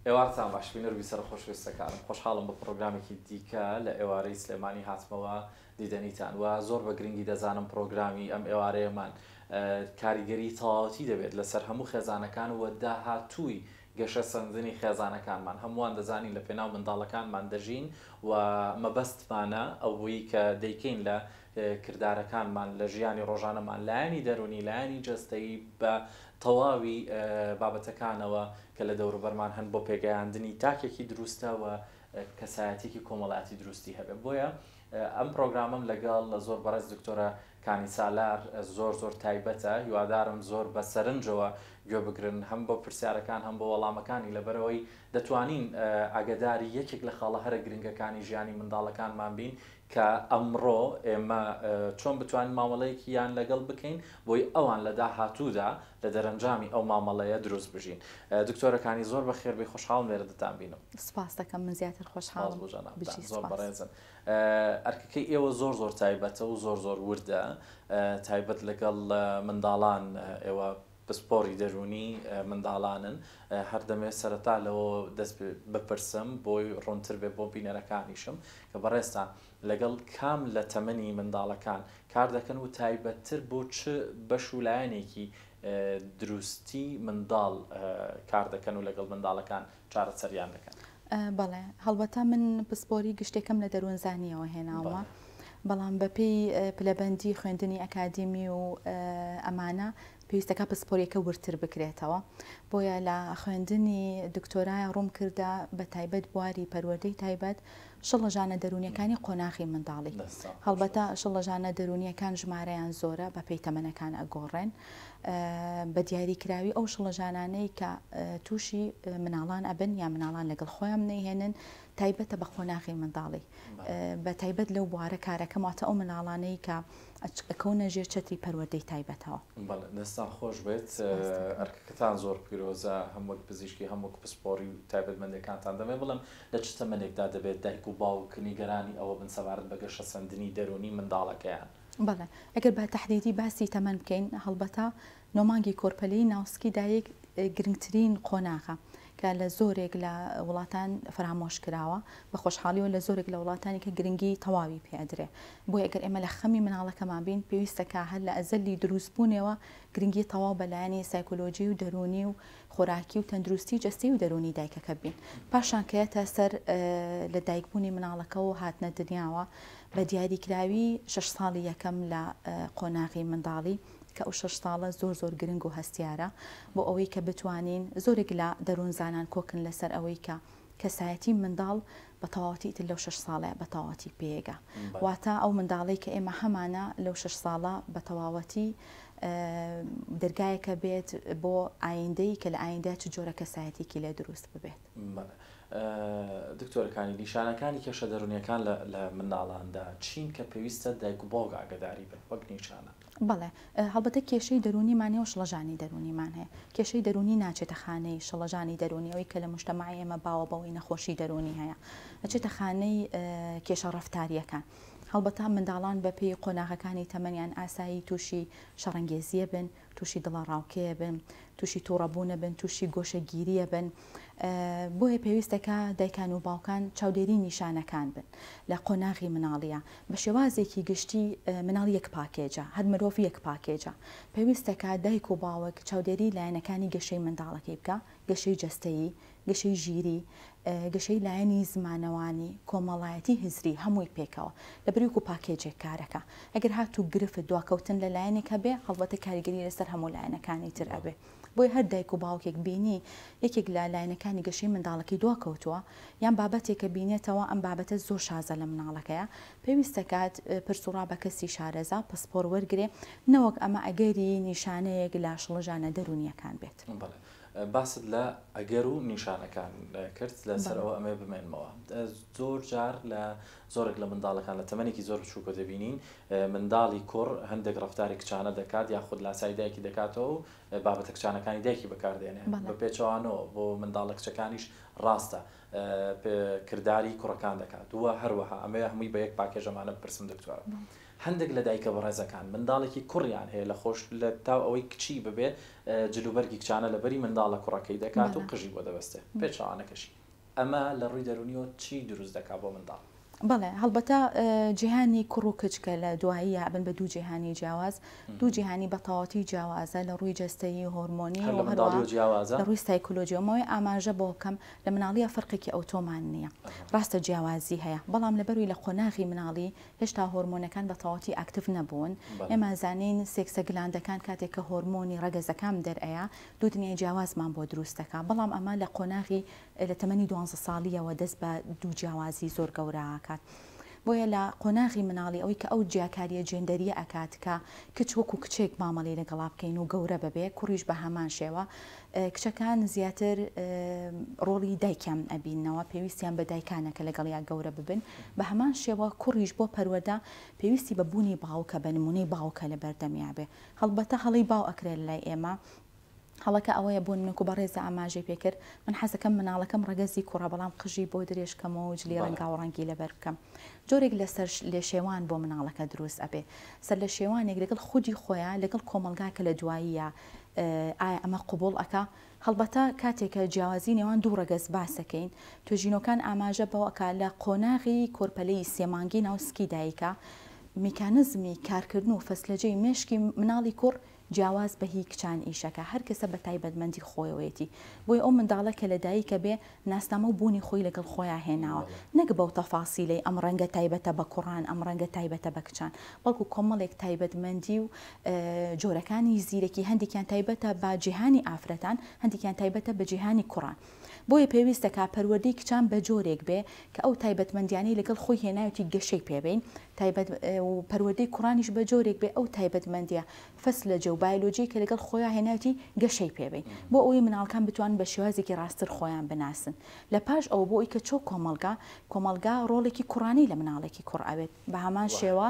ئێوارتان باش بینەرو بیسەرە خۆشویستەکانم خۆشحاڵم بە پڕۆگرامێکی دیکە لە ئێوارەی سلێمانی هاتمەوە دیدەنیتان وە زۆر بە گرنگی دەزانم پڕۆگرامی ئەم ئێوارەیەمان کاریگەری تەواوەتی دەبێت لەسەر هەموو خێزانەکان وە داهاتووی گەشە سەندنی خێزانەکانمان هەمووان دەزانین لە پێناو منداڵەکانمان دەژین وە مەبەستمانە ئەوەی کە دەیکەین لە کردارەکانمان لە ژیانی ڕۆژانەمان، لایەنی دەروونی، لایەنی جەستەیی بە تەواوی بابەتەکانەوە کە لە دەوروبەرمان هەن بۆ پێگەیاندنی تاکێکی دروستە و کەسایەتیەکی کۆمەڵایەتی دروستی هەبێت بۆیە ئەم پرۆگرامەم لەگەڵ لە زۆر بەڕێز دکتۆرە کانی سالار زۆر زۆر تایبەتە هیوادارم زۆر بە سەرنجەوە گوێ بگرن هەم بۆ پرسیارەکان هەم بۆ وەڵامەکانی لەبەرەوەی دەتوانین ئاگداری یەکێک لە خاڵە هەرە گرنگەکانی ژیانی منداڵەکانمان بین کە ئەمڕۆ ئێمە چۆن بتوانین مامەڵەیەکیان لەگەڵ بکەین بۆی ئەوان لە داهاتوودا لە دەرەنجامی ئەو مامەڵەیە دروست بژین دکتۆرەکانی زۆر بەخێربێی خۆشحاڵم لێرە دەتانبینم. سپاس دەکەم من زیاتر خۆشحاڵم. سپاس بۆ جەنابتان زۆر بەڕێزن. ئەرکەکەی ئێوە زۆر زۆر تایبەتە و زۆر زۆر وردە تایبەت لەگەڵ منداڵان ئێوە پسپۆڕی دەروونی منداڵانن، هەر دەمەوێت سەرەتا لەوەوە دەست بپرسم بۆی ڕوونتر بێت بۆ بینەرەکانیشم کە بەڕێزتان لەگەڵ کام لە تەمەنی منداڵەکان کار دەکەن و تایبەتتر بۆ چ بەش و لایەنێکی دروستی منداڵ کار دەکەن و لەگەڵ منداڵەکان چارەسەریان دەکەن. بەڵێ، هەڵبەتە من پسپۆری گشتێکەم لە دەروونزانییەوە هێناوە، بەڵام بەپێی پلەبەندی خوێندنی ئەکادیمی و ئەمانە پێویستەکە پسپۆریەکە وردتر بکرێتەوە، بۆیە لە خوێندنی دکتۆرایە ڕووم کردە بە تایبەت بواری پەروەردەی تایبەت شڵەژانە دەروونییەکانی قۆناغی منداڵی، هەڵبەتە شڵەژانە دەروونییەکان ژمارەیان زۆرە بەپێی تەمەنەکان ئەگۆڕێن، بە دیاریکراوی ئەو شڵەژانانەی کە تووشی مناڵان ئەبن یا مناڵان لەگەڵ خۆیان بنەیهێنن تایبەتە بە قۆناغی منداڵی بە تایبەت لەو بوارە کارەکەم واتە ئەو مناڵانەی کە ئەکەونە ژێر چەتری پەروەردەی تایبەتەوە. بەڵێ دەستان خۆش بێت ئەرکەکەتان زۆر پیرۆزە هەم وەک پزیشکی هەم وەک پسپۆڕی و تایبەتمەندێکانتان دەمێ بڵێم لە چ تەمەنێکدا دەبێت دایک و باوک نیگەرانی ئەوە بن سەبارەت بە گەشەسەندنی دەروونی منداڵەکەیان؟ بەڵێ، ئەگەر بە تەحدیدی باسی تەمەن بکەین، هەڵبەتە نۆ مانگی کۆرپەلەی ناو سکی دایک گرنگترین قۆناغە کە لە زۆرێک لە وڵاتان فەرامۆش کراوە، بە خۆشحاڵیەوە لە زۆرێک لە وڵاتانی کە گرنگی تەواوی پێ ئەدرێ، بۆیە گەر ئێمە لە خەمی مناڵەکەمان بین پێویستە کە هەر لە ئەزەلی دروست بوونێوە گرنگی تەواو بە لایەنی سایکۆلۆژی و دەروونی و خۆراکی و تەندروستی جەستەی و دەروونی دایکەکە بین پاشان کەیەتە سەر لە دایکبوونی مناڵەکە و هاتنە دنیاوە بە دیاریکراوی شش ساڵی یەکەم لە قۆناغی منداڵی کە ئەو شش ساڵە زۆر زۆر گرنگ و هەستیارە بۆ ئەوەی کە بتوانین زۆرێک لە دەروونزانان کۆکن لەسەر ئەوەی کە کەسایەتی منداڵ بە تەواوەتی ئیتر لەو شەش ساڵە بە تەواوەتی پێگە واتە ئەو منداڵەی کە ئێمە هەمانە لەو شەش ساڵە بە تەواوەتی دەرگایەکە بێت بۆ ئایندەی کە لە ئایندە چ جۆرە کەسایەتێکی لێ دروست ببێت دکتۆرەکانی نیشانەکانی کێشە دەرونیەکان لە منداڵاندا چین کە پێویستە دایک و باوک ئاگداری بن وەک نیشانە بەڵێ، هەڵبەتە کێشەی دەروونیمان هەیە و شڵەژانی دەروونیمان هەیە. کێشەی دەروونی ناچێتە خانەی شڵەژانی دەروونی، ئەوەی کە لە موژتەمەعی ئێمە باوە بەوەی نەخۆشی دەروونی هەیە، ئەچێتە خانەی کێشە ڕەفتارییەکان. هەڵبەتە منداڵان بە پێی قۆناغەکانی تەمەنیان ئاسایی تووشی شەڕەنگێزییە بن، تووشی دڵەڕاوکێیە بن، تووشی تووڕەبوونە بن، تووشی گۆشەگیرییە بن، بۆیە پێویستە کە دایکان و باوکان چاودێری نیشانەکان بن لە قۆناغی مناڵیە بە شێوازێکی گشتی مناڵ یەک پاکێجە هەر مرۆڤ یەک پاکێجە پێویستە کە دایک و باوک چاودێری لایەنەکانی گەشەی منداڵەکەی بکە گەشەی جەستەیی گەشەی ژیری گەشەی لایەنی زمانەوانی کۆمەڵایەتی هزری هەمووی پێکەوە لە بریوک و پاکێجێک کارەکە ئەگەر هاتوو گرفت دواکەوتن لە لایەنێک هەبێ هەڵبەتە کاریگەری لەسەر هەموو لایەنەکانی تر ئەبێ بۆیە هەر دایک و باوکێک بینی یەکێک لە لاینەکانی گەشەی منداڵەکەی دواکەوتووە یان بابەتێکە بینێتەوە ئەم بابەتە زۆر شازە لە مناڵەکەیا پێویستە کات پرس و ڕا بە کەسی شارەزا پسپۆر وەرگرێ نەوەک ئەمە ئەگەری نیشانەیەک لە شڵەژانە دەروونیەکان بێت. بەڵێ باست لە ئەگەر و نیشانەکان کرد لەسەر ئەوە ئەمەوێ بمێنمەوە زۆر جار لە زۆرێک لە منداڵەکان لە تەمەنێکی زۆر بچووکەوە دەبینین منداڵی کوڕ هەندێک ڕەفتاری کچانە دەکات یاخود لاسایی دایکی دەکاتەوە و بابەتە کچانەکانی دایکی بەکاردێنێ بە پێچەوانەوە بۆ منداڵە کچەکانیش ڕاستە کرداری کوڕەکان دەکات و هەروەها ئەمەوێ هەمووی بە یەک پاکێژ ئەمانە بپرسم دکتۆر هەندێک لە دایکە بەڕێزەکان منداڵێکی کوڕیان هەیە لە خۆش لە تاو ئەوەی کچی ببێ جلوبەرگی کچانە لەبەری منداڵە کوڕەکەی دەکات و قژی بۆ دەبەستێ پێچەوانەکەشی ئەمە لە ڕووی دەروونیەوە چی دروست دەکات بۆ منداڵ؟ بەڵێ هەڵبەتە جیهانی کوڕ و کچ کە لە دواییە ئەبن بە دوو جیهانی جیاواز، دوو جیهانی بە تەواوەتی جیاوازە لە ڕووی جەستەیی، هۆرمۆنی و هەروەها لە ڕووی سایکۆلۆژیەوە. مەوەی ئاماژە بۆ بکەم لە مناڵییە فەرقێکی ئەوتۆمان نییە. ڕاستە جیاوازی هەیە بەڵام لەبەرووی لە قۆناغی مناڵی هێشتا هۆرمۆنەکان بە تەواوەتی ئاکتیڤ نەبوون. ئێمە ئەزانین سێکسە گلاندەکان کاتێک کە هۆرمۆنی ڕەگەزەکان دەر ئەیا، دوو دنیای جیاوازمان بۆ دروست دەکات، بەڵام ئەمە لە قۆناغی لە تەمەنی دوانزە ساڵییەوە دەست بە دوو جیاوازی زۆر گەورە ئەکات. بۆیە لە قۆناغی مناڵی ئەوەی کە ئەو جیاکارییە جێندەرییە ئەکات کە کچ وەکوو کچێک مامەڵەی لەگەڵا بکەین و گەورە ببێ، کوڕیش بە هەمان شێوە. کچەکان زیاتر ڕۆڵی دایکیان ئەبیننەوە، پێویستیان بە دایکانە کە لەگەڵیا گەورە ببن، بە هەمان شێوە کوڕیش بۆ پەروەردە پێویستی بە بوونی باوکە، بە نموونەی باوکە لە بەردەمیا بێ. هەڵبەتە هەڵەی باو ئەکرێ لە لای ئێمە هەڵەکە ئەوەیە بۆ نمەکو بەڕێزە ئاماژەی پێ کرد من حەزەکەم مناڵەکەم ڕەگەزی کوڕە بەڵام قژی بۆ درێژ کەمەوە و جلی ڕەنگاو ڕەنگی لەبەر بکەم جۆرێک لە سەر لێ شێوان بۆ مناڵەکە دروست ئەبێ سەر لە شێوانێک لەگەڵ خودی خۆیە لەگەڵ کۆمەڵگا کە لە دواییە ئایا ئەمە قبوڵ ئەکا هەڵبەتە کاتێک کە جیاوازی نێوان دوو ڕەگەز باس دەکەین، توێژینەوەکان ئاماژە بەوە ئەکات لە قۆناغی کۆرپەلەیی سێ مانگی ناو سکی دایکە، میکانزمی کارکردن و فەسلەجەی مێشکی مناڵی کوڕ جیاواز بە هی کچان ئیشەکە هەر کەسە بە تایبەتمەندی خۆیەوەیەتی، بۆیە ئەو منداڵە کە لە دایکە بێ ناسنامە و بوونی خۆی لەگەڵ خۆیا هێناوە، نەک بەو تەفاسیلەی ئەم ڕەنگە تایبەتە بە کوڕان، ئەم ڕەنگە تایبەتە بە کچان، بەڵکو کۆمەڵێک تایبەتمەندی و جۆرەکانی زیرەکی هەندێکیان تایبەتە بە جیهانی ئافرەتان، هەندێکیان تایبەتە بە جیهانی کوڕان. بۆیە پێویست دەکات پەروەردەی کچان بە جۆرێک بێ کە ئەو تایبەتمەندیانەی لەگەڵ خۆی هێناوێتی گەشەی پێ بین، تایبەت و پەروەردەی کوڕانیش بە جۆرێک بێ ئەو تایبەتمەندیە فسلجە و بایلۆجی کە لەگەڵ خۆیا هێنایەتی گەشەی پێ بین بۆ ئەوەی مناڵکان بتوانن بە شێوازێکی ڕاستتر خۆیان بناسن لە پاش ئەوە بۆ ئەوەی کە چۆ کۆمەڵگا کۆمەڵگا ڕۆڵێکی کوڕانی لە مناڵێکی کوڕ ئەوێت بە هەمان شێوە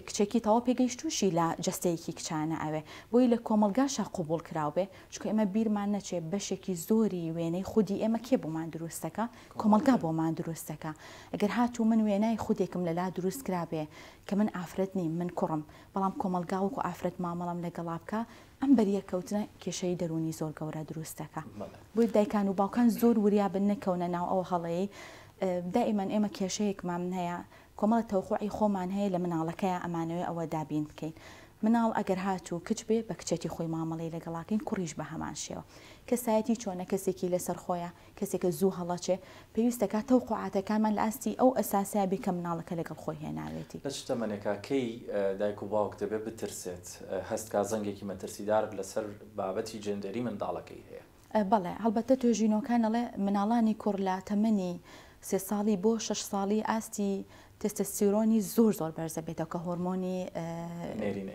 کچێکی تەواو پێگەیشتووشی لە جەستەیەکی کچانە ئەوێ بۆی لە کۆمەڵگاشا قبوڵ کراو بێ چونکە ئێمە بیرمان نەچێ بەشێکی زۆری وێنەی خودی ئێمە کێ بۆمان دروست دەکا کۆمەڵگا بۆمان دروست دەکا ئەگەر هاتوو من وێنای خودێکم لە لا دروست کرابێ کە من ئافرەت نیم من کوڕم بەڵام کۆمەڵگا وەکو ئافرەت مامەڵەم لەگەڵا بکا ئەم بەریەککەوتنە کێشەی دەروونی زۆر گەورە دروست دەکا بۆیە دایکان و باوکان زۆر وریا بن نەکەونە ناو ئەو هەڵەیەی دائیمەن ئێمە کێشەیەکمام هەیە کۆمەڵە تەوقوعی خۆمان هەیە لە مناڵەکەیە ئەمانەوێ ئەوە دابین بکەین مناڵ ئەگەر هاتوو کچ بێ بە کچێتی خۆی مامەڵەی لەگەڵاکەین کوڕیش بە هەمان شێوە کەسایەتی چۆنە کەسێکی لەسەر خۆیە کەسێک کە زوو هەڵەچێ، پێویستە کە تەوقوعاتەکانمان لە ئاستی ئەو ئەساسەیا بێ کە مناڵەکە لەگەڵ خۆی هێناوێتی. لە چ تەمەنێکا کەی دایک و باوک دەبێ بترسێت، هەست کا زەنگێکی مەترسیدار لە سەر بابەتی جێندەری منداڵەکەی هەیە؟ بەڵێ، هەڵبەتە توێژینەوەکان ئەڵێ مناڵانی کوڕ لە تەمەنی سێ ساڵی بۆ شەش ساڵی ئاستی تێستێستیرۆنی زۆر زۆر بەرز دەبێتەوە کە هۆرمۆنی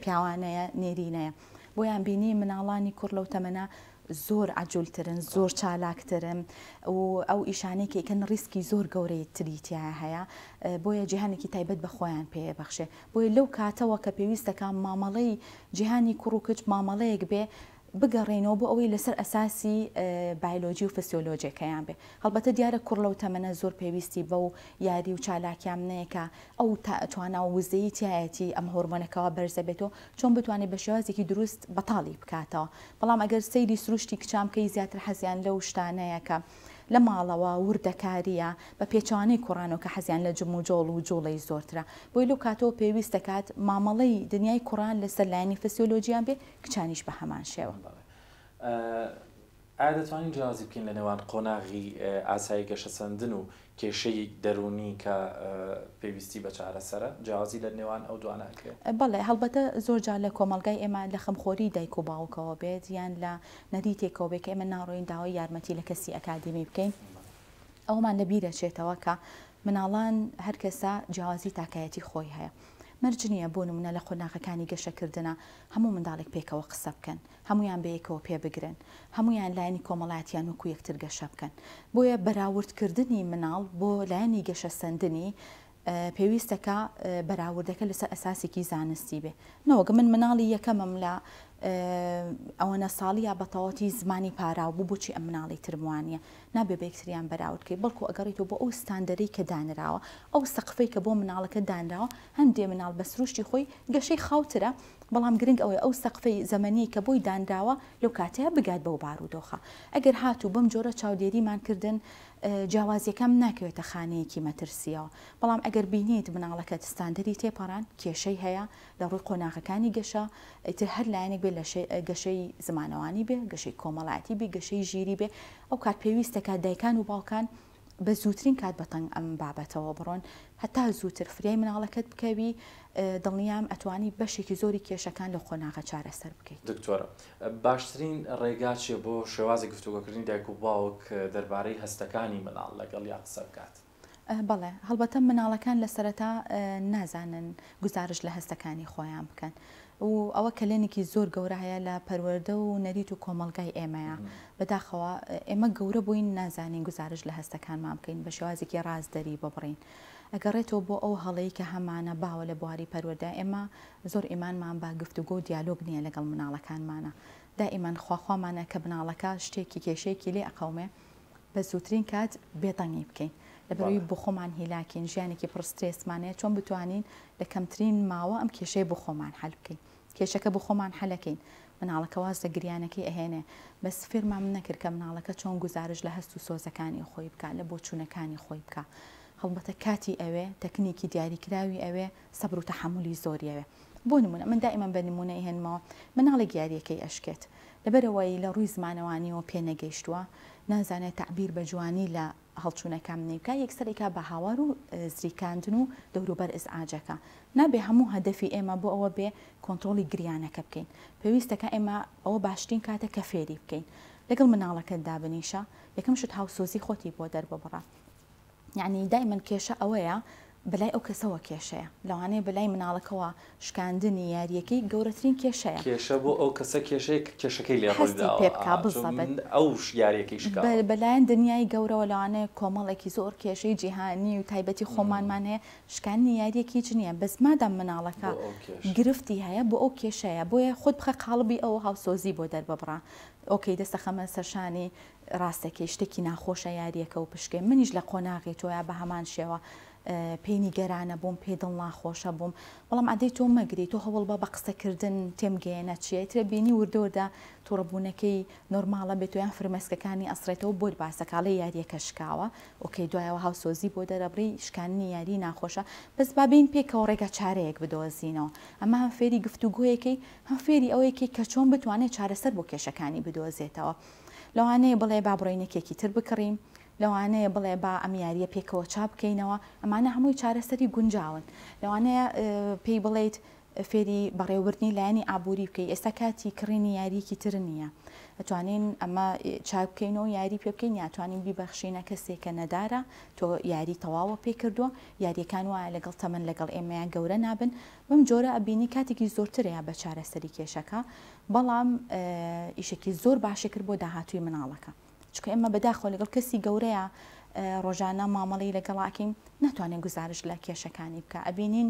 پیاوانەیە، نێرینەیە. بۆیان بینی مناڵانی کوڕ لەو تەمەنە زۆر عەجول ترن زۆر چالاک ترن و ئەو ئیشانەی کە ئەیکەن ڕیسکی زۆر گەورەی تری تیایا هەیە بۆیە جیهانێکی تایبەت بە خۆیان پێ ئەبەخشێ بۆیە لەو کاتەوە کە پێویستە کە مامەڵەی جیهانی کوڕ و کچ مامەڵەیەک بێ بگەڕێینەوە بۆ ئەوەی لەسەر ئەساسی بایلۆجی و فسیۆلۆجیەکەیان بێ هەڵبەتە دیارە کوڕ لەو تەمەنە زۆر پێویستی بەو یاری و چالاکیان نەیە کە ئەو تا توانا و وزەی تایەتی ئەم هۆرمۆنەکەەوە بەرزە بێتەوە چۆن بتوانێت بە شێوازێکی دروست بەتاڵی بکاتەوە بەڵام ئەگەر سەیری سروشتی کچان بکەی زیاتر حەزیان لەو شتانەیە کە لە ماڵەوە وردەکارییە بە پێچەوانەی کوڕانەوە کە حەزیان لە جموجۆڵ و جوڵەی زۆرترە بۆیە لەو کاتەوە پێویست دەکات مامەڵەی دنیای کوڕان لەسەر لایەنی فسیۆلۆجییان بێ کچانیش بە هەمان شێوە. بەڵێ. ئایا دەتوانین جیاوازی بکەین لە نێوان قۆناغی ئاسایی گەشەسەندن و کێشەیەک دەروونی کە پێویستی بە چارەسەرە، جیاوازی لە نێوان ئەو دوانە ئەکرێت؟ بەڵێ، هەڵبەتە زۆر جار لە کۆمەڵگای ئێمە لە خەمخۆری دایک و باوکەوە بێت یان لە نەریتێکەوە بێت کە ئێمە ناڕۆین داوای یارمەتی لە کەسی ئەکادیمی بکەین ئەوەمان لە بیر ئەچێتەوە کە مناڵان هەر کەسە جیاوازی تاکایەتی خۆی هەیە مەرج نییە بۆ نموونە لە قۆناغەکانی گەشەکردنا هەموو منداڵێک پێکەوە قسە بکەن هەموویان بەیەکەوە پێبگرن، هەموویان لایەنی کۆمەڵاتیان وەکو یەکتر گەشە بکەن. بۆیە بەراورد کردنی مناڵ بۆ لایەنی گەشە سەندنی پێویستە کە بەراوردەکە لەسەر ئەساسێکی زانستی بێ نەوەک من مناڵی یەکەمم لە ئەوەنە ساڵیە بەتەواتی زمانی پاراو بوو بۆچی ئەم مناڵی ترم وانە نابێ بەکتریان بەراوردکەی بەڵکو ئەگەڕیتەوە بۆ ئەو ستاندەری کە دانراوە ئەو سەقفەی کە بۆ مناڵەکە دانراوە هەندێ مناڵ بە سروشتی خۆی گەشەی خاوترە بەڵام گرنگ ئەوەیە ئەو سەقفی زەمەنیەی کە بۆی دانراوە لەو کاتەیا بگات بەو بارودۆخە ئەگەر هاتوو بەم جۆرە چاودێریمان کردن جیاوازیەکەم ناکەوێتە خانەیەکی مەترسیەوە بەڵام ئەگەر بینیت مناڵەکەت ستاندەری تێپەڕان کێشەی هەیە لە ڕووی قۆناغەکانی گەشە ئیتر هەر لایەنێک بێ لە گەشەی زمانەوانی بێ گەشەی کۆمەڵایەتی بێ گەشەی ژیری بێ ئەو کات پێویستەکە دایکان و باوکان بە زووترین کات بە تەنگ ئەم بابەتەوە بڕۆن هەتا زووتر فریای مناڵەکەت بکەوی دڵنیام ئەتوانی بەشێکی زۆری کێشەکان لە قۆناغە چارەسەر بکەی. دکتۆر باشترین ڕێگا چیە بۆ شێوازی گفتوگۆکردنی دایک و باوک دەربارەی هەستەکانی مناڵ لەگەڵیا قسە بکات؟ بەڵێ هەڵبەتە مناڵەکان لە سەرەتا نازانن گوزارش لە هەستەکانی خۆیان بکەن و ئەوە کەلێنێکی زۆر گەورە هەیە لە پەروەردە و نەریت و کۆمەڵگای ئێمەیە بەداخەوە ئێمە گەورە بووین نازانین گوزارش لە هەستەکانمان بکەین بە شێوازێکی ڕاست دەری ببڕین ئەگەڕێتەوە بۆ ئەو هەڵەی کە هەمانە باوە لە بواری پەروەردە ئێمە زۆر ئیمانمان بە گفتوگۆ و دیالۆگ نیە لەگەڵ مناڵەکانمانە دائیمەن خواخوامانە کە مناڵەکە شتێکی کێشەیەکی لێ ئەقەومێ بە زووترین کات بێدەنگی بکەین لەبەرئەوەی بەڵێ. بۆخۆمان هیلاکین ژیانێکی پڕ سترێسمان هەیە چۆن بتوانین لە کەمترین ماوە ئەم کێشەیە بۆخۆمان حەل بکەین کێشەکە بۆخۆمان حەلەکەین مناڵەکە واز لە گریانەکەی ئەهێنێ بەس فێرمام نەکرد کە مناڵەکە چۆن گوزارش لە هەست و سۆزەکانی خۆی بکا لە بۆچوونەکانی خۆی بکا هەڵبەتە کاتی ئەوێ تەکنیکی دیاریکراوی ئەوێ سەبر و تەحەمولی زۆری ئەوێ بۆ نمونە من دائیمەن بە نمونە ئەیهێنمەوە مناڵێک یاریەکەی ئەشکێت لەبەرئەوەی لە ڕووی زمانەوانیەوە پێ نەگەیشتووە نازانێت تەعبیر بە جوانی لە هەڵچوونەکامنی بکا یەکسەر ئەیکا بە هاوار و زریکاندن و دەوروبەر ئزعاجەکە نابێ هەموو هەدەفی ئێمە بۆ ئەوە بێ کۆنترۆڵی گریانەکە بکەین پێویستەکە ئێمە ئەوە باشترین کاتە کە فێری بکەین لەگەڵ مناڵەکەت دابنیشە یەکەم شت هاوسۆزی خۆتی بۆ دەرببڕە یەعنی دایمەن کێشە ئەوەیە بەلای ئەو کەسەوە کێشەیە لەوانەیە بەلای مناڵەکەوە شکاندنی یاریەکەی گەورەترین کێشەیە. کێشە بۆ ئەو کەسە کێشەیە کە کێشەکەی لێ ڕووی داوە. هەستی پێ بکا بزەبەت. چۆن ئەو یاریەکەی شکاوە. بەلایەن دنیای گەورەوە لەوانەیە کۆمەڵێکی زۆر کێشەی جیهانی و تایبەتی خۆمانمان هەیە شکاندنی یاریەک هیچ نیە بەس مادام مناڵەکە گرفتی هەیە بۆ ئەو کێشەیە بۆیە خۆت بخە قاڵبی ئەو هاوسۆزی بۆ دەرببڕە ئۆکەی دەستەخەمە سەرشانی ڕاستەکەی شتەکی ناخۆشە یاریەکە و پشکێ منیش لە قۆناغی تۆیا بەهەمان شێوە پێی نیگەرانە بووم پێی دڵناخۆشە بووم بەڵام ئەدەی تۆ مەگری تۆ هەوڵبە بە قسەکردن تێم گەیەنە چیە ترە بینی وردە وردە توڕەبوونەکەی نۆرماڵە بێت یان فرمێسکەکانی ئەسڕێتەوە بۆت باسەکاڵێ یاریەکە شکاوە ئۆکەی دوایەوە هاوسۆزی بۆ دەرەبڕی شکاندنی یاری ناخۆشە بەس با بێین پێکەوە ڕێگا چارەیەک بدۆزینەوە ئەمە هەم فێری گفتوگۆیەکەی هەم فێری ئەوەیەکەی کە چۆن بتوانێت چارەسەر بۆ کێشەکانی بدۆزێتەوە لەوانەیە بڵێ با بڕۆین یەکێکی تر بکڕین، لەوانەیە بڵێ با ئەم یارییە پێکەوە چا بکەینەوە، ئەمانە هەمووی چارەسەری گونجاون. لەوانەیە پێی بڵێیت فێری بەڕێوەبردنی لایەنی ئابووری بکەی، ئێستا کاتی کڕینی یارییەکی تر نییە، ئەتوانین ئەمە چاک بکەین و یاری پێ بکەین یا ئەتوانین بیبەخشینە کەسێک کە نەدارە، تۆ یاری تەواوە پێی کردووە، یارییەکان وایە لەگەڵ تەمەن لەگەڵ ئێمەیە گەورە نابن، بەم جۆرە ئەبینی کاتێکی زۆرتر هەیە بە چارەسەری کێشەکە. بەڵام ئیشێکی زۆر باشی کرد بۆ داهاتووی مناڵەکە چکە ئێمە بەداخۆ لەگەڵ کەسی گەورەیە ڕۆژانە مامەڵی لەگەڵاکەین ناتوانێت گزارش لە کێشەکانی بکە ئەبینین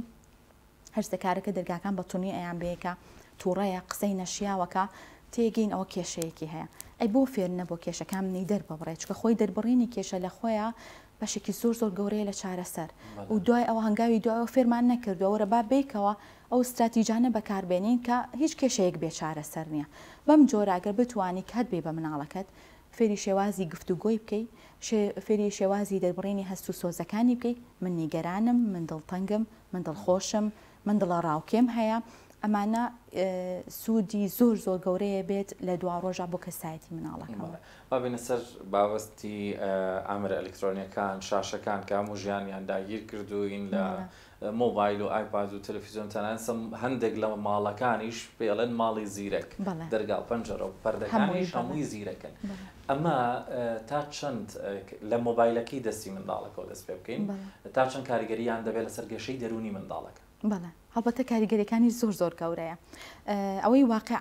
هەرزەکارەکە دەرگاکان بە تونی ئەیان بەیەکە تووڕەیە قسەی نەشیاوەکە تێگەین ئەوە کێشەیەکی هەیە ئەی بۆ فێر نەبوو کێشەکان منی دەرببڕێ چکە خۆی دەربڕینی کێشە لە خۆیە بەشێکی زۆر زۆر گەورەیە لە چارەسەر و دوای ئەوە هەنگاوی دوایەوە فێرمان نەکردووە وەرە با بیکەوە ئەو ستراتیجانە بەکاربێنین کە هیچ کێشەیەک بێ چارەسەر نییە. بەم جۆرە گەر بتوانی کات بەی بە مناڵەکەت، فێری شێوازی گفتوگۆی بکەی، شێ فێری شێوازی دەربڕینی هەست و سۆزەکانی بکەی، من نیگەرانم، من دڵتەنگم، من دڵخۆشم، من دڵەڕاوکێم هەیە، ئەمانە سوودی زۆر زۆر گەورەیە بێت لە دواڕۆژا بۆ کەسایەتی مناڵەکە. بەڵێ. با بێینە سەر بابەتی ئامێرە ئەلیکترۆنییەکان، شاشەکان کە هەموو ژیانیان داگیر کردووین لە مۆبایل و ئایپاد و تەلەفیزیۆن تەنانەت هەندێک لە ماڵەکانیش پێی ئەڵێن ماڵی زیرەک دەرگا و پەنجەرە و پەردەکانیش هەمووی زیرەکن ئەمە تا چەند لە مۆبایلەکەی دەستی منداڵەکەەوە دەست پێ بکەین تا چەند کاریگەریان دەبێت لەسەر گەشەی دەرونی منداڵەکە بەڵێ هەڵبەتە کاریگەریەکانی زۆر زۆر گەورەیە ئەوەی واقع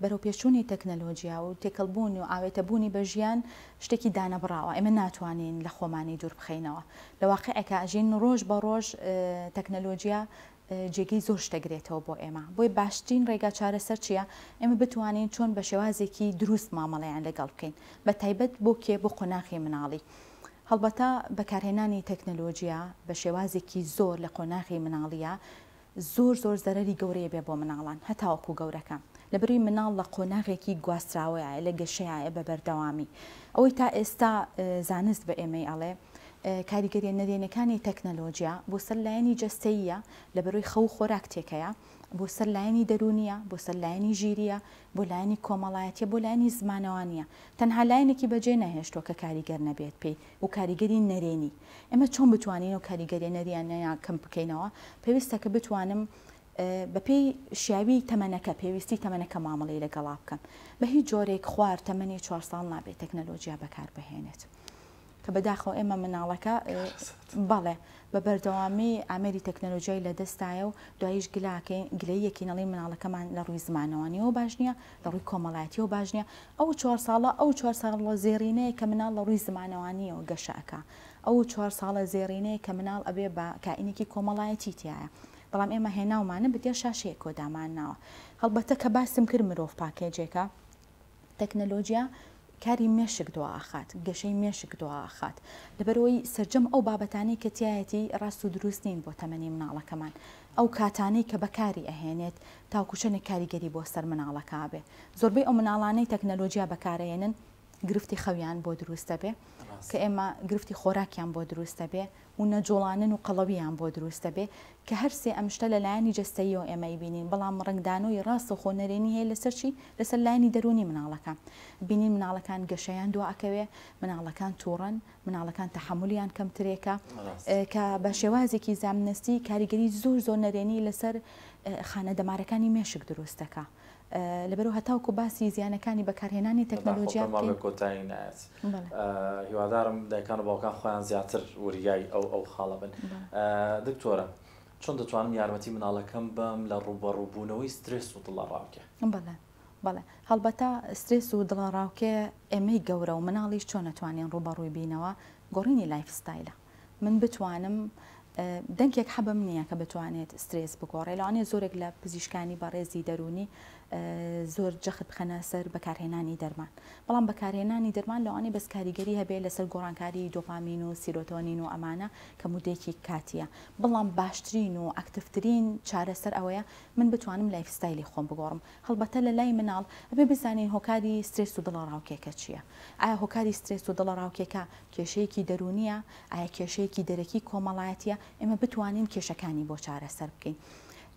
بەرەو پێشوونی تەکنەلۆجییا و تێکەڵبوون و ئاوێتەبوونی بە ژیان شتێکی دانەبڕاوە ئێمە ناتوانین لە خۆمانی دوور بخەینەوە لە واقیعێکا ئەژین ڕۆژ بە ڕۆژ تەکنەلۆجیا جێگەی زۆر شتەگرێتەوە بۆ ئێمە بۆیە باشترین ڕێگا چارەسەر چیە ئێمە بتوانین چۆن بە شێوازێکی دروست مامەڵەیان لەگەڵ بکەین بە تایبەت بۆ کێ بۆ قۆناغی مناڵی هەڵبەتە بەکارهێنانی تەکنەلۆجیا بە شێوازێکی زۆر لە قۆناغی مناڵیە زۆر زۆر زەرەری گەورەی بێ بۆ مناڵان هەتاوەکو گەورەکە لەبەروی مناڵ لە قۆناغێکی گواستراوەیایە لە گەشەیایە بە بەردەوامی ئەوەی تا ئێستا زانست بە ئێمەی ئەڵێ کاریگەریە نەرێنەکانی تەکنەلۆجیا بۆ سەر لایەنی جەستەییە لەبەروی خەو خۆراک تێکەیە بۆ سەر لایەنی دەرونیە بۆ سەر لایەنی ژیریە بۆ لایەنی کۆمەڵایەتیە بۆ لایەنی زمانەوانیە تەنها لایەنێکی بەجێ نەهێشتوە کە کاریگەر نەبێت پێی و کاریگەری نەرێنی، ئێمە چۆن بتوانین ئەو کاریگەریە نەریانەیە کەم بکەینەوە، پێویستە کە بتوانم بە پێی شیاوی تەمەنەکە پێویستی تەمەنەکە مامەڵەی لەگەڵا بکەم، بە هیچ جۆرێک خوار تەمەنی چوار ساڵ نابێت تەکنەلۆجیا بەکار بهێنێت، کە بەداخەوە ئێمە مناڵەکە بەڵێ بە بەردەوامی ئامێری تەکنەلۆجیای لە دەستایە و دوایش گلاکەین گلەییەکەین ئەڵێین مناڵەکەمان لە ڕووی زمانەوە نیوە باش نییە، لە ڕووی کۆمەڵایەتیەوە باش نیە ئەو چوار ساڵە ئەو چوار ساڵە زێڕینەیە کە مناڵ لە ڕووی زمانەوانیەوە گەشە ئەکا ئەو چوار ساڵە زێڕینەیە کە مناڵ ئەبێ بە کائینێکی کۆمەڵایەتی تیایە بەڵام ئێمە هێناومانە بە دێ شاشەیەکەوە دامانناوە هەڵبەتە کە باسم کرد مرۆڤ پاکێجێکە تەکنەلۆجیا کاری مێشک دواخات، گەشەی مێشک دواخات، لەبەرئەوەی سەرجەم ئەو بابەتانەی کە تیایەتی ڕاست و دروست نین بۆ تەمەنی مناڵەکەمان، ئەو کاتانەی کە بەکاری ئەهێنێت تاوەکو چەنێک کاریگەری بۆ سەر مناڵەکە ئەبێ، زۆربەی ئەو مناڵانەی تەکنەلۆجیا بەکار ئەهێنن گرفتی خەویان بۆ دروست ئەبێ، کە ئێمە گرفتی خۆراکیان بۆ دروست ئەبێ، و نەجوڵانن و قەڵەوییان بۆ دروست دەبێ کە هەر سێ ئەم شتە لە لایەنی جەستەییەوە ئێمە ئەیبینین بەڵام ڕەنگدانەوەی ڕاستەوخۆ نەرێنی هەیە لەسەر چی؟ لەسەر لایەنی دەروونی مناڵەکە بینین مناڵەکان گەشەیان دوا ئەکەوێ مناڵەکان توڕەن مناڵەکان تەحەمولیان کەمترێکە کە بە شێوازێکی زامنەستی کاریگەری زۆر زۆر نەرێنی لەسەر خانە دەمارەکانی مێشک دروست دەکا. لەبەرو هەتاوکو باسی زیانەکانی بەکارهێنانی تەکنەلۆجیا بکەین. بەداخەوە پێم وابێ کۆتایی نایەت. هیوادارم دایکان و باوکان خۆیان زیاتر وریای ئەو ئەو خاڵە بن. دکتۆرە چۆن دەتوانم یارمەتی مناڵەکەم بەم لە ڕوبەڕو بونەوەی سترێس و دڵەڕاوکێ؟ بەڵێ بەڵێ هەڵبەتە سترێس و دڵەڕاوکێ ئێمەی گەورە و مناڵیش چۆن ئەتوانین ڕوبەڕوی بینەوە گۆڕینی لایف ستایلە. من بتوانم دەنکێک حەبم نییە کە بتوانێت سترێس بگۆڕێ لەوانێ زۆرێک لە پزیشکانی بەڕێزی دەرونی زۆر جەخت بخەنە سەر بەکارهێنانی دەرمان بەڵام بەکارهێنانی دەرمان لەوانێ بەس کاریگەری هەبێ لەسەر گۆڕانکاری دۆپامین و سیرۆتۆنین و ئەمانە کە مودێکی کاتیە بەڵام باشترین و ئەکتفترین چارەسەر ئەوەیە من بتوانم لایفستایلی خۆم بگۆڕم هەڵبەتە لە لای مناڵ ئەبێ بزانین هۆکاری سترێس و دڵەڕاوکێکە چییە ئایا هۆکاری سترێس و دڵەڕاوکێکە کێشەیەکی دەروونییە؟ ئایا کێشەیەکی دەرەکی کۆمەڵایەتییە؟ ئێمە بتوانین کێشەکانی بۆ چارەسەر بکەین.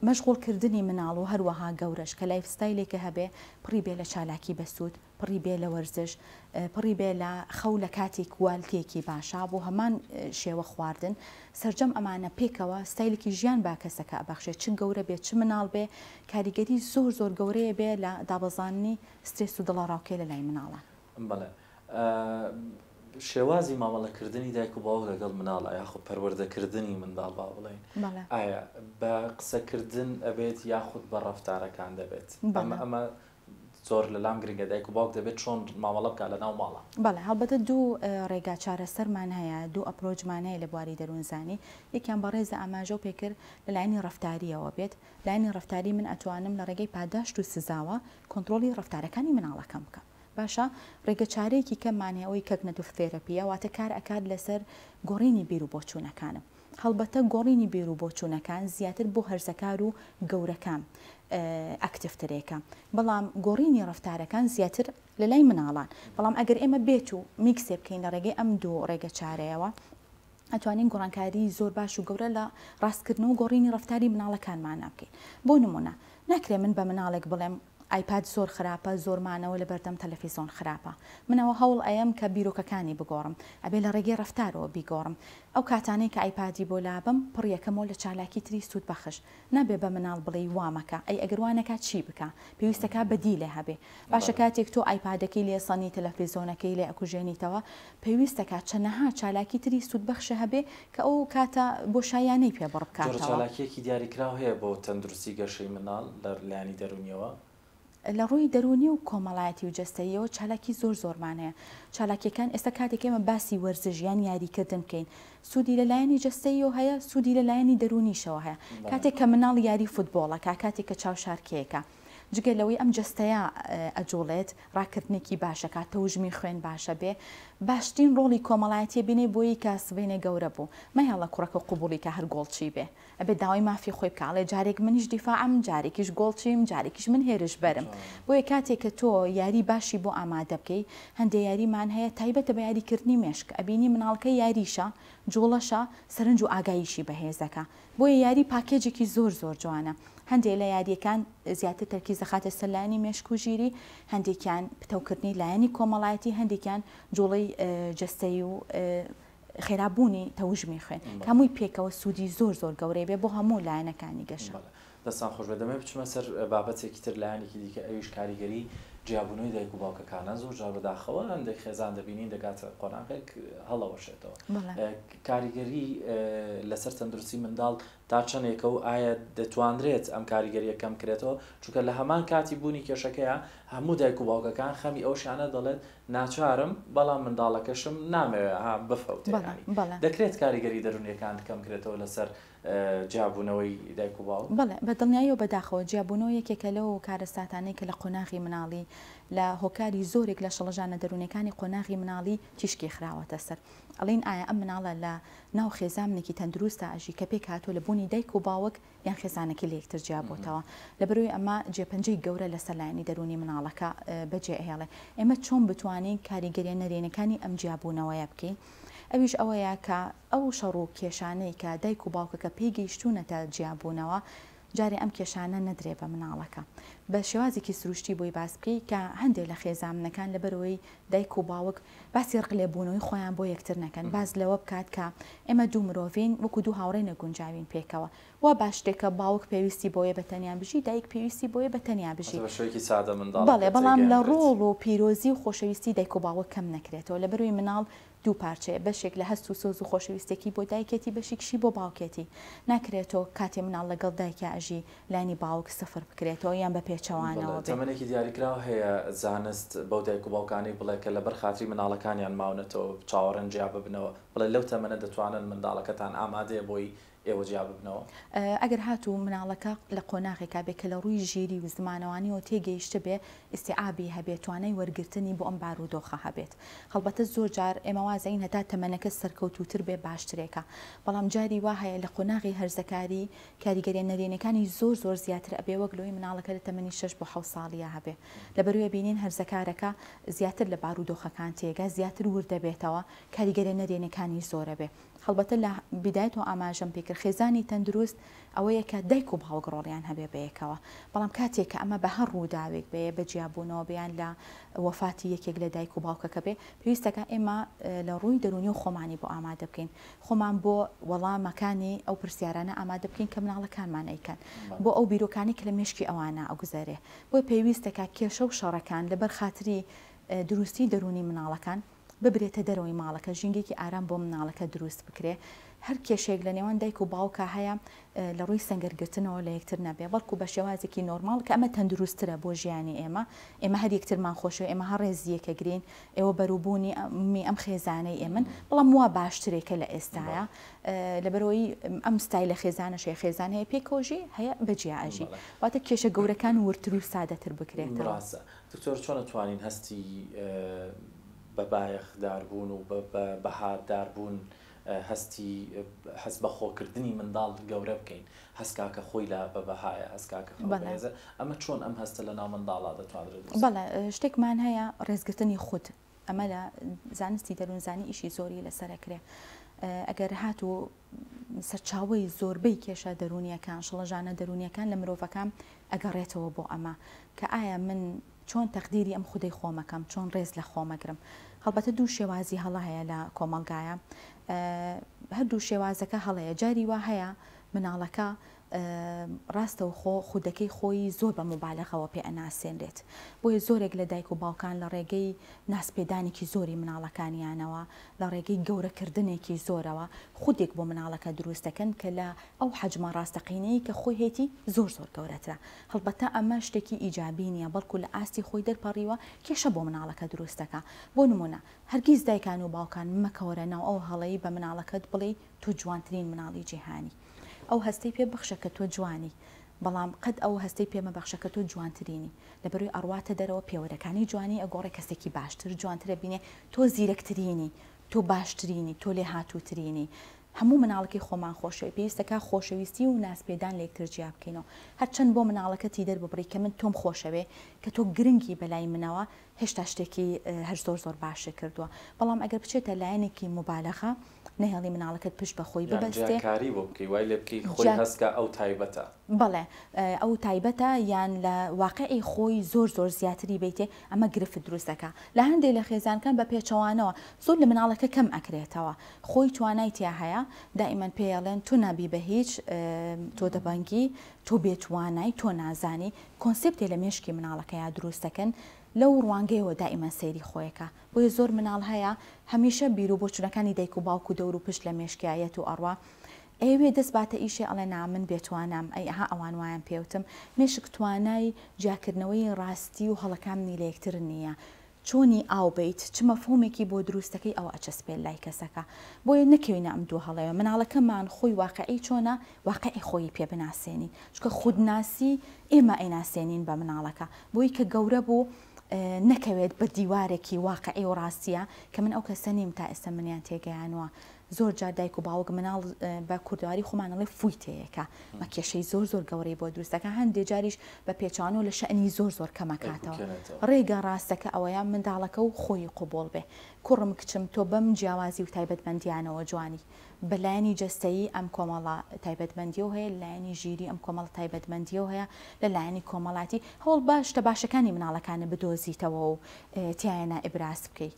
مەشغوڵکردنی مناڵ و هەروەها گەورەش کە لایفستایلێکە هەبێ پڕی بێ لە چالاکی بەسوود، پڕی بێ لە وەرزش، پڕی بێ لە خەو لە کاتی کوالتییەکی باشا بۆ هەمان شێوە خواردن، سەرجەم ئەمانە پێکەوە ستایلێکی ژیان بە کەسەکە ئەبەخشێ چ گەورە بێ چ مناڵ بێ کاریگەری زۆر زۆر گەورەی ئەبێ لە دابەزاندنی سترێس و دڵەڕاوکێ لە لای مناڵان. بەڵێ شێوازی مامەڵەکردنی دایک و باوک لەگەڵ مناڵە یاخود پەروەردەکردنی منداڵ با بڵێن ئایا بە قسەکردن ئەبێت یاخود بە ڕفتارەکان دەبێت بەمە ئەمە زۆر لەلام گرنگە دایک و باوک دەبێت چۆن مامەڵە بکە لە ناو ماڵە بەڵێ هەڵبەتە دوو ڕێگا چارەسەرمان هەیە دوو ئەپرۆچمان هەیە لە بواری دەروونزانی یەکیان بەڕێزە ئاماژە و پێکرد لە لایەنی ڕفتاریەوە بێت لایەنی ڕفتاری من ئەتوانم لە ڕێگەی پاداشت و سزاوە کۆنتترۆلی ڕفتارەکانی مناڵەکەم بکەم باشە ڕێگە چارەیەکی کەممان هەیە ئەوەی کەگنەتڤ ثێرەپیە واتە کار ئەکات لەسەر گۆڕینی بیرو بۆچوونەکانم هەڵبەتە گۆڕینی بیرو بۆچوونەکان زیاتر بۆ هەرزەکارو گەورەکان ئەکتڤ ترێکە بەڵام گۆڕینی ڕەفتارەکان زیاتر لەلای مناڵان بەڵام ئەگەر ئێمە بێت و میکسێ بکەین لە ڕێگەی ئەم دوو ڕێگە چارەیەوە ئەتوانین گۆڕانکاری زۆر باش و گەورە لە ڕاستکردن و گۆڕینی ڕفتاری مناڵەکانمان نابکەین بۆ نمونە ناکرێ من بە مناڵێک بڵێم ئایپاد زۆر خراپە زۆر مانەوە لەبەردەم تەلەفیزۆن خراپە من ئەوە هەوڵ ئەیەم کە بیرۆکەکانی بگۆڕم ئەبێ لە ڕێگەی ڕەفتارەوە بیگۆڕم ئەو کاتانەی کە ئایپادی بۆ لابەم پڕی ئەکەمەوە لە چالاکی تری سوود بەخش نابێ بە مناڵ بڵێی وا مەکە ئەی ئەگەر وا نەکا چی بکا پێویستەکا بەدیلێ هەبێ باشە کاتێک تۆ ئایپادەکەی لێ سەنی تەلەفیزۆنەکەی لێ ئەکوژێنیتەوە پێویست دەکات چەنەها چالاکی تری سوودبەخشە هەبێ کە ئەو کاتە بۆشاییانەی پێ بڕ جۆرە بکاتەوە. چالاکییەکی دیاریکراو هەیە بۆ تەندروستی گەشەی منداڵ لە لایەنی دەروونییەوە؟ لە ڕووی دەروونی و کۆمەڵایەتی و جەستەییەوە چالاکی زۆر زۆرمان هەیە. چالاکییەکان ئێستا کاتێک ئێمە باسی وەرزش یان یاریکردن بکەین سوودی لە لایەنی جەستەییەوە هەیە، سوودی لە لایەنی دەروونیشەوە هەیە. کاتێک کە منداڵ یاری فوتبۆڵ ئەکا، کاتێک کە چاوشارکێکە. جگە لەوەی ئەم جەستەیە ئەجوڵێت ڕاکردنێکی باشەکات تەوژمی خوێن باشە بێ باشترین ڕۆڵی کۆمەڵایەتیە بینەی بۆیی کە سبەینێ گەورە بوو مەیەڵە کوڕەکە قبوڵی کە هەر گۆڵچی بێ ئەبێ داوای مافی خۆی بکە ئەڵێ جارێک منیش دیفاعم جارێکیش گۆڵچیم جارێکیش من هێرش بەرم بۆیە کاتێک کە تۆ یاری باشی بۆ ئامادە بکەی هەندێ یاریمان هەیە تایبەتە بە یاریکردنی مێشک ئەبینی مناڵکە یاریشە جوڵەشە سەرنج و ئاگاییشی بەهێزەکە بۆیە یاری پاکێجێکی زۆر زۆر جوانە هەندێ لە یاریەکان زیاتر تەرکیز دەخاتە سەر لایەنی مێشک و ژیری هەندێکیان پتەوکردنی لایەنی کۆمەڵایەتی هەندێکیان جوڵەی جەستەیی و خێرابوونی تەوژمی خوێن کامووی پێکەوە سوودی زۆر زۆر گەورەی بێ بۆ هەموو لایەنەکانی گەشە. دەستان خۆش بێت دەمەوێت بچمە سەر بابەتێکی تر لایەنێکی دیکە ئەویش کاریگەری جیابوونەوەی دایک و باوکەکانە زۆر جار بەداخەوە هەندێک خێزان دەبینین دەگاتە قۆناغێک هەڵەوەشێتەوە کاریگەری لەسەر تەندروستی منداڵ تا چەندێکە و ئایا دەتوانرێت ئەم کاریگەریە کەم کرێتەوە چونکە لە هەمان کاتی بوونی کێشەکەیە هەموو دایک و باوکەکان خەمی ئەو شانە دەڵێت ناچارم بەڵام منداڵەکەشم نامەوێ ها بفەوتێ دەکرێت کاریگەری دەرونیەکان کەم کرێتەوە لەسەر جیابوونەوەی دایک و باوک؟ بەڵێ، بە دڵنیایی و بەداخەوە، جیابوونەوە یەکێکە لەو کارەساتانەی کە لە قۆناغی منداڵی، لە هۆکاری زۆرێک لە شڵەژانە دەروونیەکانی قۆناغی منداڵی تیشکی خراوەتە سەر. ئەڵێن ئایا ئەم منداڵە لە ناو خێزامنێکی تەندرووستا ئەژی کە پێک هاتووە لە بوونی دایک و باوک یان خێزانەکەی لە یەکتر جیا بۆتەوە؟ لەبەروی ئەمە جێپەنجەی گەورە لە سەر لایەنی دەروونی منداڵەکە بە جێ ئەهێڵێ. ئێمە چۆن بتوانین کاریگەریە نەرێنیەکانی ئەم جیابوونەوەیە بکەین؟ ئەویش ئەوەیە کە. ئەو شەڕ و کێشانەی کە دایک و باوکەکە پێی گەیشتوونەتە جیابوونەوە، جارێ ئەم کێشانە نەدرێ بە مناڵەکە. بە شێوازێکی سروشتی بۆی باس بکەی کە هەندێ لە خێزامنەکان لەبەرئەوەی دایک و باوک باسی ڕق لێبوونەوەی خۆیان بۆ یەکتر نەکەن، باس لەوە بکات کە ئێمە دوو مرۆڤین وەکو دوو هاوڕێ نەگونجاوین پێکەوە. وا با شتێک کە باوک پێویستی بەوەیە بە تەنیا بژی، دایک پێویستی بەوەیە بە تەنیا بژی. بەڵێ، بەڵام لە ڕۆڵ و پیرۆزی و خۆشەویستی دایک و باوک کەم نەکرێتەوە، لەبەرئەوەی مناڵ دوو پارچەیە بەشێک لە هەست و سۆز و خۆشەویستێکی بۆ دایکێتی بەشیکشی بۆ باوکێتی ناکرێتۆ کاتێ مناڵ لەگەڵ دایکیا ئەژی لانی باوک سفر بکرێتەوە یان بە پێچەوانەوە بێ. تەمەنێکی دیاریکراو هەیە زانست بەو دایک و باوکانەی بڵێ کە لەبەر خاتری مناڵەکانیان ماونەتەوە چاوەڕێن جیاببنەوە بڵێ لەو تەمەنە دەتوانن منداڵەکەتان ئامادەیە بۆی ئێوە جیا ببنەوە؟ ئەگەر هاتوو مناڵەکە لە قۆناغێکا بێ کە لە ڕووی ژیری و زمانەوانیەوە تێگەیشتبێ، ئیستیعابی هەبێ، توانای وەرگرتنی بۆ ئەم بارودۆخە هەبێت. هەڵبەتە زۆر جار ئێمە وازەین هەتا تەمەنەکە سەرکەوتووتر بێ باشترێکە. بەڵام جاری وا هەیە لە قۆناغی هەرزەکاری کاریگەریە نەرێنیەکانی زۆر زۆر زیاتر ئەبێ وەک لەوەی مناڵەکە لە تەمەنی شەش بۆ حەوت ساڵییا هەبێ. لەبەروێ بینین هەرزەکارەکە زیاتر لە بارودۆخەکان تێگا، زیاتر وردەبێتەوە، کاریگەریە نەرێنیەکانی زۆرەبێ. هەڵبەتە لە بیدایەتەوە ئاماژەم پێ کرد خێزانی تەندروست ئەوەیە کە دایک و باوک ڕۆڵیان هەبێ بەیەکەوە بەڵام کاتێک کە ئەمە بە هەر ڕووداوێک بەیە بە جیابوونەوە بەیان لە وەفاتی یەکێک لە دایک و باوکەکە بێ پێویستەکە ئێمە لە ڕووی دەرونی و خۆمانی بۆ ئامادە بکەین خۆمان بۆ وەڵامەکانی ئەو پرسیارانە ئامادە بکەین کە مناڵەکانمان ئەیکەن بۆ ئەو بیرۆکانی کە لە مشکی ئەوانە ئەگوزارێ بۆی پێویستەکە کێشە و شەڕەکان لەبەر خاتری دروستی دەرونی مناڵەکان ببرێتە دەرەوەی ماڵەکە ژینگەیەکی ئارام بۆ مناڵەکە دروست بکرێ هەر کێشەیەک لە نێوان دایک و باوکا هەیە لە ڕووی سەنگەر گرتنەوە لە یەکتر نەبێ بەڵکو بە شێوازێکی نۆرماڵ کە ئەمە تەندروستترە بۆ ژیانی ئێمە ئێمە هەر یەکترمان خۆشەوێ ئێمە هەر ڕێزی یەکەگرین ئێوە بەروبوونی ئەم خێزانەی ئێمن بەڵام وا باشترێک کە لە ئێستاە لەبەرەوەی ئەم ستای لە خێزانە شێ خێزان هەیە پێکۆژی هەیە بەجیا ئەژی واتە کێشە گەورەکان ورتر و سادەتر بکرێت ڕاستە دکتۆر چۆن ئەتوانین هەستی بە بایەخ دار بوون و بە بەها دار بوون هەستی هەست بە خۆ کردنی منداڵ گەورە بکەین هەست کاکە خۆی لە بە بەهایە هەست کاکە خۆی بەهێزە ئەمە چۆن ئەم هەستە لە ناو منداڵا دەتوانرێت بەڵێ شتێکمان هەیە ڕێزگرتنی خود ئەمە لە زانستی دەروونزانی ئیشی زۆری لەسەر کرێ ئەگەر هاتوو سەرچاوی زۆربەی کێشە دەرونیەکان شڵەژانە دەرونیەکان لە مرۆڤەکان ئەگەڕێتەوە بۆ ئەمە کە ئایا من چۆن تەقدیری ئەم خودەی خۆمەکەم چۆن ڕێز لە خۆمەگرم هەڵبەتە دوو شێوازی هەڵە هەیە لە کۆمەلگایە هەردوو شێوازەکە هەڵەیە جاری وا هەیە مناڵەکە ڕاستەوخۆ خودەکەی خۆیی زۆر بە موبالەغەوە پێ ئەناسێنرێت، بۆیە زۆرێک لە دایک و باوکان لە ڕێگەی نازپێدانێکی زۆری مناڵەکانیانەوە، لە ڕێگەی گەورە کردنێکی زۆرەوە خودێک بۆ مناڵەکە دروست دەکەن کە لە ئەو حەجمە ڕاستەقینەی کە خۆی هەیەتی زۆر زۆر گەورەترە، هەڵبەتە ئەمە شتێکی ئیجابی نیە بەڵکو لە ئاستی خۆی دەرپەڕیوە کێشە بۆ مناڵەکە دروست دەکا، بۆ نمونە هەرگیز دایکان و باوکان مەکەوەرە ناو ئەو هەڵەی بە مناڵەکەت بڵێی تۆ جوانترین مناڵی جیهانی. ئەو هەستەی پێ بخشە کە تۆ جوانی بەڵام قەت ئەو هەستەی پێ مەبەخشە کە تۆ جوانترینی لەبەروی ئەڕواتە دەرەوە پێوەرەکانی جوانی ئەگۆڕێ کەسێکی باشتر جوانتر ئەبینێ تۆ زیرەکترینی تۆ باشترینی تۆ لێهاتووترینی هەموو مناڵەکەی خۆمان خۆشەوێ پێویستەکا خۆشەویستی و نازپێدان لە یەکتر جیا بکەینەوە هەرچەند بۆ مناڵەکە تیدەر ببڕی کە من تۆم خۆشەوێ کە تۆ گرنگی بەلای منەوە هێشتا شتێکی هەر زۆر زۆر باشت کردووە بەڵام ئەگەر بچێتە لایەنێکی موبالەغە نەهێڵی مناڵەکەت پشت بە خۆی ببەستێ یان جیاکاری بۆ بکەی وای لێ بکەی خۆی هەست کا ئەو تایبەتە بەڵێ ئەو تایبەتە یان لە واقعی خۆی زۆر زۆر زیاتری بیتێ ئەمە گرفت دروست دەکا لە هەندێک لە خێزانکان بە پێچەوانەوە زۆر لە مناڵەکە کەم ئەکرێتەوە خۆی توانای تیا هەیە دائیمەن پێڵێن تو نابی بە هیچ تۆ دەبەنگی تۆ بێتوانای تۆ نازانی کۆنسپتێ لە مێشکی مناڵەکەیا دروست دەکەن لەو ڕوانگەیەوە دائیمەن سەیری خۆیەکە بۆیە زۆر مناڵ هەیە هەمیشە بیرو بۆچونەکانی دایک و باوک و دەور و پشت لە مێشکیا یەت و ئەڕوا ئەیەوێ دەست باتە ئیشێ ئەڵێ نا من بێ توانام ئەی ئەها ئەوان وایان پێوتم مێشک توانای جیاکردنەوەی ڕاستی و هەڵەکامنی لە یەکتر نیە چۆنی ئاو بەیت چ مەفهومێکی بۆ دروستەکەی ئەوە ئەچەسپێ لای کەسەکە بۆیە نەکەوینە ئەم دوو هەڵەیە مناڵەکەمان خۆی واقعی چۆنە واقعی خۆیی پێ بناسێنی چونکە خودناسی ئێمە ئەیناسێنین بە مناڵەکە بۆی کە گەورە بوو نەکەوێت بە دیوارێکی واقعی و ڕاستیە کە من ئەو کەسە نیم تا ئێستا منیان تێگەیانوە زۆر جار دایک و باوک مناڵ بە کوردواری خۆمانەڵێ فوی تەیەکە مە کێشەی زۆر زۆر گەورەی بۆ دروستەکە هەندێ جاریش بە پێچوانەوە لە شەنی زۆر زۆر کەمەکاتەوە ڕێگە ڕاستەکە ئەوەیە منداڵەکە و خۆی قوبۆڵ بێ کوڕم کچم تۆ بەم جیاوازی و تایبەتمەندیانەوە جوانی بە لایەنی جەستەیی ئەم کۆمەڵە تایبەتمەندییەو هەیە، لە لایەنی ژیری ئەم کۆمەڵە تایبەتمەندییەو هەیە، لە لایەنی کۆمەڵایەتی هەوڵ بە شتە باشەکانی مناڵەکانە بدۆزیتەوەو تیایانا ئیبراز بکەی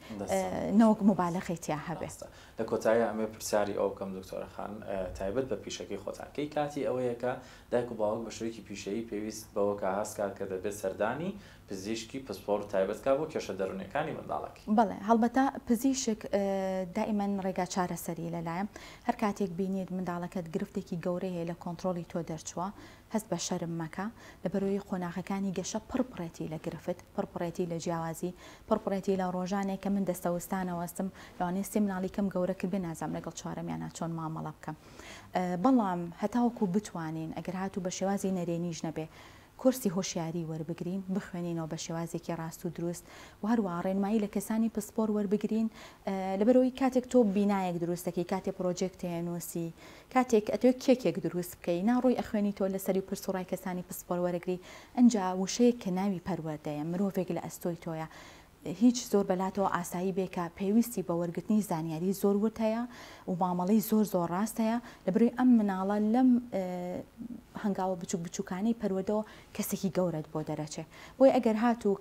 نەوەک موبالەغەی تیا هەبێ. لە کۆتاییا ئەمەوێ پرسیاری ئەو بکەم دکتۆرە خان تایبەت بە پیشەکەی خۆتان کەی کاتی ئەوەیە کە دایک و باوک بە شێوەیەکی پیشەیی پێویست بەوە کە هەست کات کە دەبێت سەردانی پزیشکی پسپۆڕ تایبەت کا بۆ کێشە دەرونیەکانی منداڵەک. بەڵێ هەڵبەتە پزیشک دائیمەن ڕێگا چارەسەری لەلایە هەر کاتێک بینیت منداڵەکەت گرفتێکی گەورەی هەیە لە کۆنتڕۆڵی تۆ دەرچووە هەست بە شەرم مەکە لەبەرەوەی قۆناغەکانی گەشە پڕ پڕێتی لە گرفت پڕ پڕێتی لە جیاوازی پڕ پڕێتی لە ڕۆژانێک کە من دەستە وستانەوەستم لەوانەیە سێ مناڵی کەم گەورە کرد بێ نازام لەگەڵ چوارەمیانا چۆن مامەڵە بکەم بەڵام هەتاوەکو بتوانین ئەگەر هاتوو بە شێوازی نەرێنیش نەبێ کۆرسی هۆشیاری وەربگرین، بخوێنینەوە بە شێوازێکی ڕاست و دروست و هەروەها ڕێنمایی لە کەسانی پسپۆر وەربگرین، لەبەرئەوەی کاتێک تۆ بینایەک دروست دەکەی، کاتێک پڕۆجێکتێ ئەنووسی، کاتێک ئەتەوێ کێکێک دروست بکەی، نا ڕۆی ئەخوێنیتەوە لەسەری و پرس و ڕای کەسانی پسپۆر وەرەگری، ئەنجا وشەیەک کە ناوی پەروەردەیە، مرۆڤێک لە ئەستۆی تۆیە، هیچ زۆر بەلاتەوە ئاسایی بێ کە پێویستی بە وەرگرتنی زانیاری زۆر ورد هەیە و مامەڵەی زۆر زۆر ڕاست هەیە لەبروی ئەم مناڵە لەم هەنگاوە بچوک بچوکانەی پەروەدەوە کەسێکی گەورەت بۆ دەرەچێ بۆی ئەگەر هات و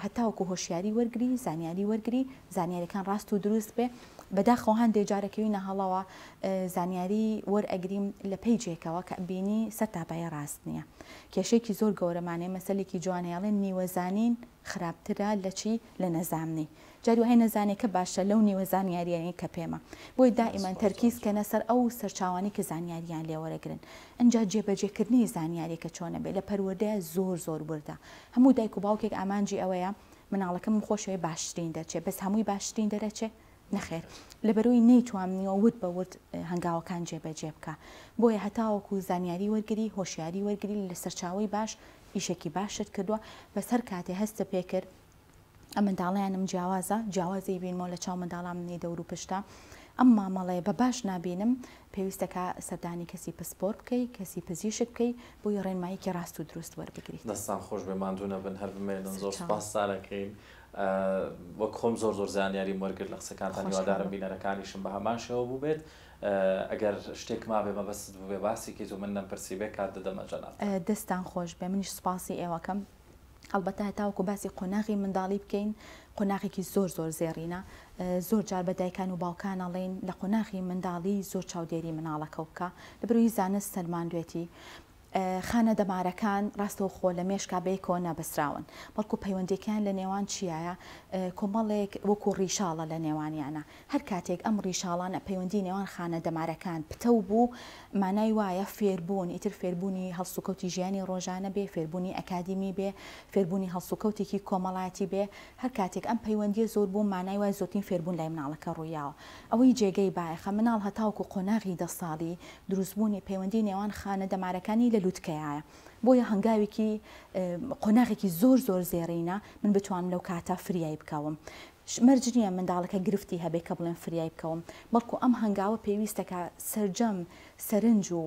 هەتاوکو هۆشیاری وەرگری زانیاری وەرگری زانیاریەکان ڕاست و دروست بێ بەداخەوە هەندێ جارەکەوی نەهەڵەوە زانیاری وەر ئەگریم لە پێی جێکەوە کە بینی سەر تاپایە ڕاست نییە کێشێکی زۆر گەورەمانێ مەسلێکی جوانێڵێن نیوەزانین و خراپترە لە چی لە نەزامنی جاری وایە نەزانێکە باشە لەو نیوە زانیاریەی کە پێمە بۆی دائیمان تەرکیز کەنە سەر ئەو سەرچاوانەی کە زانیاریان لێ وەرەگرن ئەنجا جێبەجێکردنی زانیاریەکە چۆنە بێ لە پەروەردەیە زۆر زۆر وردە هەموو دایک و باوکێک ئامانجی ئەوەیە مناڵەکەمم خۆشەوێ باشترین دەرچێ بەس هەمووی باشترین دەرەچێ نەخێر لەبەرئەوەی نەیتوامنیوە ورد بە ورد هەنگاوەکان جێبەجێ بکا بۆیە هەتاوەکو زانیاری وەرگری هۆشیاری وەرگری لە سەرچاوەی باش ئیشێکی باشت کردوە بەس هەر کاتێ هەستە پێ کرد منداڵیانم جیاوازە جیاوازی بینمەوە لە چاو منداڵان منی دەورو پشتە ئەم مامەڵەیە بە باش نابینم پێویستەکە سەردانی کەسی پسپۆر بکەی کەسی پزیشک بکەی بۆی ڕێنماییکی ڕاست و دروست وەربگریت. دەستان خۆش بێ ماندوو نەبن هەر بمێنن زۆر سەرچاوە. سوپاستان ئەکەین وەک خۆم زۆر زۆر زانیاریم وەرگرت لە قسەکانتان خۆشحاڵم. هیوادارم بینەرەکانیشم بە هەمان شێوە بووبێت ئەگەر شتێک مابێ مەبەستت بووبێ باسی کەیت و من نەمپرسیبێ کات دەدەمە جەنابتان. دەستتان خۆش بێ منیش سوپاسی ئێوەکەم هەڵبەتە هەتاوەکو باسی قۆناغی منداڵی بکەین قۆناغێکی زۆر زۆر زێڕینە زۆر جار بە دایکان و باوکان ئەڵێن لە قۆناغی منداڵی زۆر چاودێری مناڵەکەو بکە لەبەرەوەی زانست سەلماندوێتی خانە دەمارەکان ڕاستەوخۆ لە مێشکا بەیەکەوە نابەستراون، بەڵکو پەیوەندیەکەیان لە نێوان چیایە کۆمەڵێک وەکو ڕیشاڵە لە نێوانیانە، هەر کاتێک ئەم ڕیشاڵانە پەیوەندی نێوان خانە دەمارەکان پتەو بوو مانای وایە فێربوون، ئیتر فێربوونی هەڵسوکەوتی ژیانی ڕۆژانە بێ، فێربوونی ئەکادیمی بێ، فێربوونی هەڵسوکەوتێکی کۆمەڵاتی بێ، هەر کاتێک ئەم پەیوەندیە زۆر بوو مانای وایە زۆرترین فێربوون لای مناڵەکە ڕوویاوە. ئەوەی جێگەی بایەخە مناڵ هەتاوەکو قۆناغی دە ساڵی دروست بوونی پەیوەندی نێوان خانە دەمارەکانی لە لوتکەیایە بۆیە هەنگاوێکی قۆناغێکی زۆر زۆر زێڕینە من بتوانم لەو کاتە فریای بکەوم مەرج نییە منداڵەکە گرفتی هەبێ کە بڵێن فریای بکەوم بەڵکو ئەم هەنگاوە پێویستەکە سەرجەم سەرنج و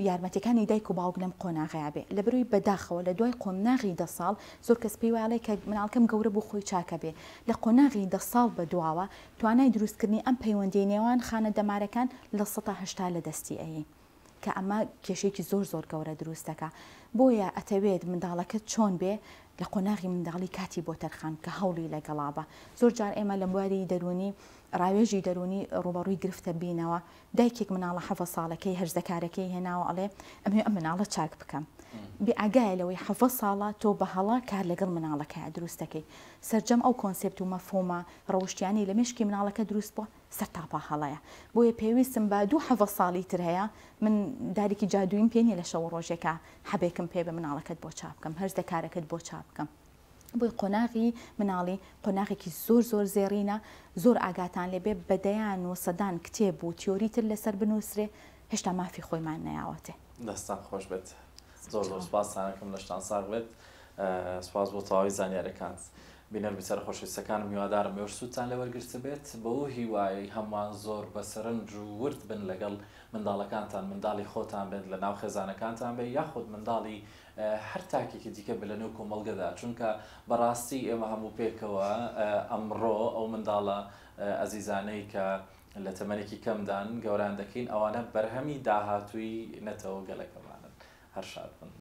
یارمەتیەکانی دایک و باوک لەم قۆناغەیا بێ لەبەروی بەداخەوە لە دوای قۆمناغی دە ساڵ زۆر کەس پێی وایڵێ کە مناڵکەم گەورە بوو خۆی چاکە بێ لە قۆناغی دە ساڵ بە دواوە توانای دروست کردنی ئەم پەیوەندیەی نێوان خانە دەمارەکان لە سەتا هەشتا لە دەستی ئەیی کە ئەمە کێشەیەکی زۆر زۆر گەورە دروست دەکا بۆیە ئەتەوێت منداڵەکەت چۆن بێ لە قۆناغی منداڵی کاتی بۆ تەرخان کە هەوڵی لەگەڵا بە زۆر جار ئێمە لە بواری دەرونی ڕاوێژی دەروونی ڕووبەڕووی گرفتە بینەوە، دایکێک مناڵە حەڤە ساڵەکەی هەرزەکارەکەی هێناوە ئەڵێ ئەمەوێ ئەم مناڵە چاک بکەم بێ ئاگایە لەوەی حەڤە ساڵە تۆ بە هەڵە کار لەگەڵ مناڵەکەیا دروست دەکەی سەرجەم ئەو کۆنسێپت و مەفهومە ڕەوشتیانەی لە مێشکی مناڵەکە دروست بووە سەرتاپا هەڵەیە بۆیە پێویستم بە دوو حەڤە ساڵی تر هەیە من دارێکی جادوویم پێ نیە لە شەوە ڕۆژێکا حەبێکم پێ بە مناڵەکەت بۆ چاک بکەم هەرزەکارەکەت بۆ چاک بکەم بۆی قۆناغی مناڵی قۆناغێکی زۆر زۆر زێڕینە زۆر ئاگاتان لێ بێ بە دەیان و سەدان کتێب و تیۆری تر لەسەر بنووسرێ هێشتا مافی خۆیمان نەیاوەتێ. دەستتان خۆش بێت زۆر زۆر سپاستان ئەکەم لەشتان ساغ بێت سپاس بۆ تەواوی زانیاریەکانت بینەر بیسەرە خۆشەویستەکانم هیوادارم ئێوەش سوودتان لێ وەرگرتبێت بەو هیوایەی هەمووان زۆر بە سەرنج و ورد بن لەگەڵ منداڵەکانتان منداڵی خۆتان بێت لەناو خێزانەکانتان بێت یاخود منداڵی هەر تاکێکی دیکە بێت لەنێو کۆمەڵگەدا، چونکە بەڕاستی ئێمە هەموو پێکەوە ئەمڕۆ ئەو منداڵە ئەزیزانەی کە لە تەمەنێکی کەمدان گەوران دەکەین، ئەوانە بەرهەمی داهاتووی نەتەوە گەلەکەمانن. هەر شاد بن.